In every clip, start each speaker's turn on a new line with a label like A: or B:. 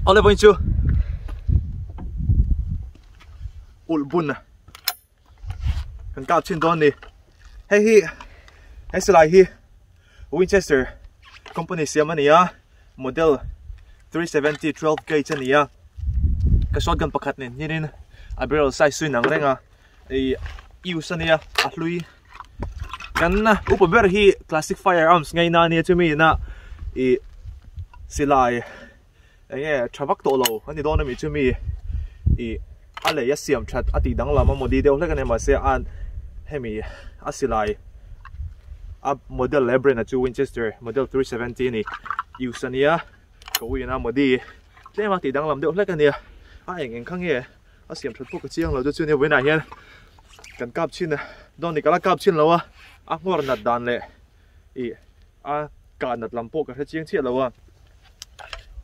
A: Olha bem tio. Ul buna. Kan kap chin don ni. Hei hi. Hei salai hi. Winchester company siam ania. Model 370 12 gauge ania. Ka shotgun pakhat nen hirin a barrel size suin ang renga. i use a nia a hlui kan na upa ber hi classic firearms ngei na nia chumi na i silai eng e thavak to lo ani don ami chumi i a lei a siam that a ti dang lama modi deuh hlek ani ma se an hemi a silai a model le brand a chu winchester model 370 ni use ania ko ina modi tlema ti dang lam deuh hlek ania a eng eng kha nge a siam that pawh ka chiang lo te chuan hei vawiinah hian kan kap chhin a dawn ni kala kap chhin lo a a nghawr nat dan leh ih a kah nat lam pawh ka hre chiang chiah lo a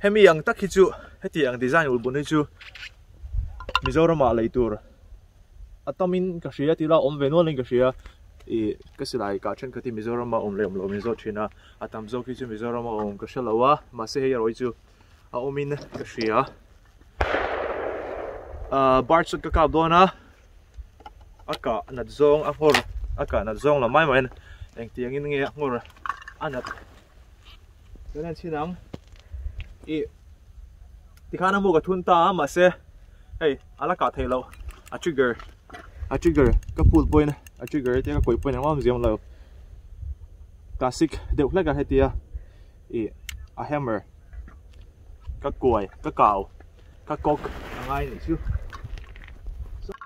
A: hemi ang tak hi chu heti ang design ul bun hi chu mizorama lei tur a tamin ka hria tila awm ve nualin ka hria ih ka silai kah then ka ti mizorama awm leh awm lo min zawt thin a a tam zawk hi chu mizorama awm ka hre lo a mahse hei a rawi chu a awmin ka hria ah, bar chu ka kap dawn a a kah nat zawng a nghawr a kah nat zawng lo mai mai engtiangin nge a nghawr a nat kan en chin ang i tikhan amu ka thun ta mahse hei ala kah thei lo a trigger a trigger ka pull point a trigger te ka kawih point ang awm ziam lo classic deuh hlek a hetia I a hammer ka kuai ka kau ka kawk a ngai ni chu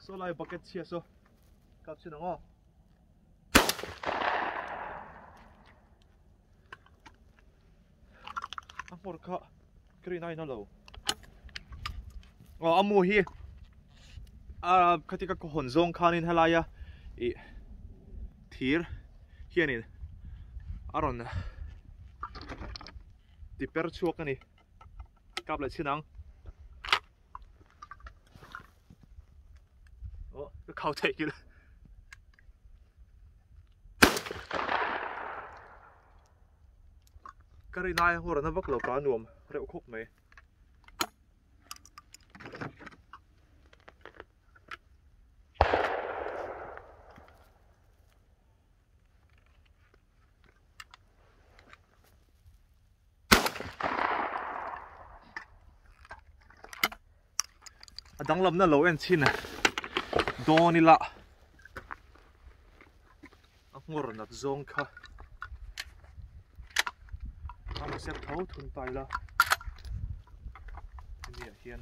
A: saw lai bucket chhia saw kap chin ang aw a hmawr kha Thrin a inhawlo aw amu hi a khati ka hawn zawng khanin helaia i thir hianin a rawn ti per chhuak ani kap leh chin ang o ka khau thei kil ka ri laia hawr ana vak lo ka nuam reuh khawp mai a danglamna lo en chin a dawn ila a ngawr nat zawng kha a rawn sep tho thun ta ila hemi ah hian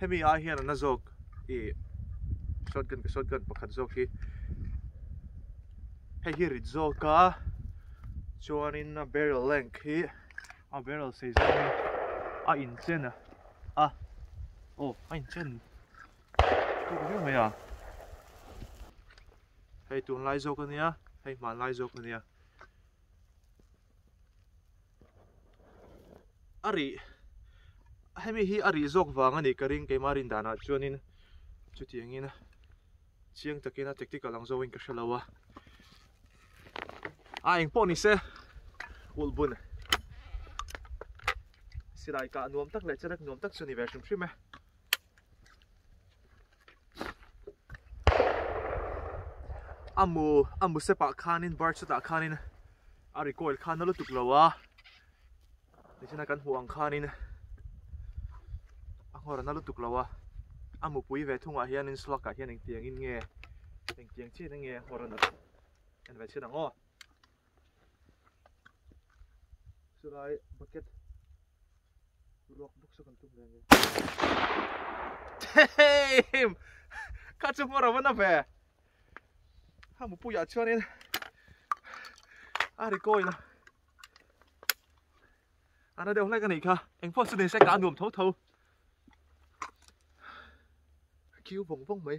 A: Hemi ah hian a na zawk i shotgun ka shotgun pakhat zawk hi hei hi rit zawk a chuanin a barrel length hi a barrel sei zawk hi a inchen a a aw a inchen tawk viau mai a hei tunlai zawk a nia hei hmanlai zawk a nia a rih hemi hi a rih zawk vang a ni ka ring keima rin dan ah chuan in chutiang in chiang tak in a tek tik a lang zawk in ka hre lo a a eng pawh ni se ulh bun silai kah nuam tak leh che rek nuam tak chu a ni ve hrim hrim e a mu a mu sepah khanin bar chutah khanin a recoil kha na lutuk lo a nihna kan hmuh ang khanin a nghawr na lutuk lo a a mu pui ve thung ah hianin slug ah hian engtiang in nge engtiang chin a nge nghawr a na en ve chin ang aw. Chulai bucket ruak buk sa kan tum reng em ka chu mora wana ve ha mu pu ya chuan in a ri koi la ana deuh hlek ani kha engpho chu ni se ka nuam tho tho kiu vong vong mai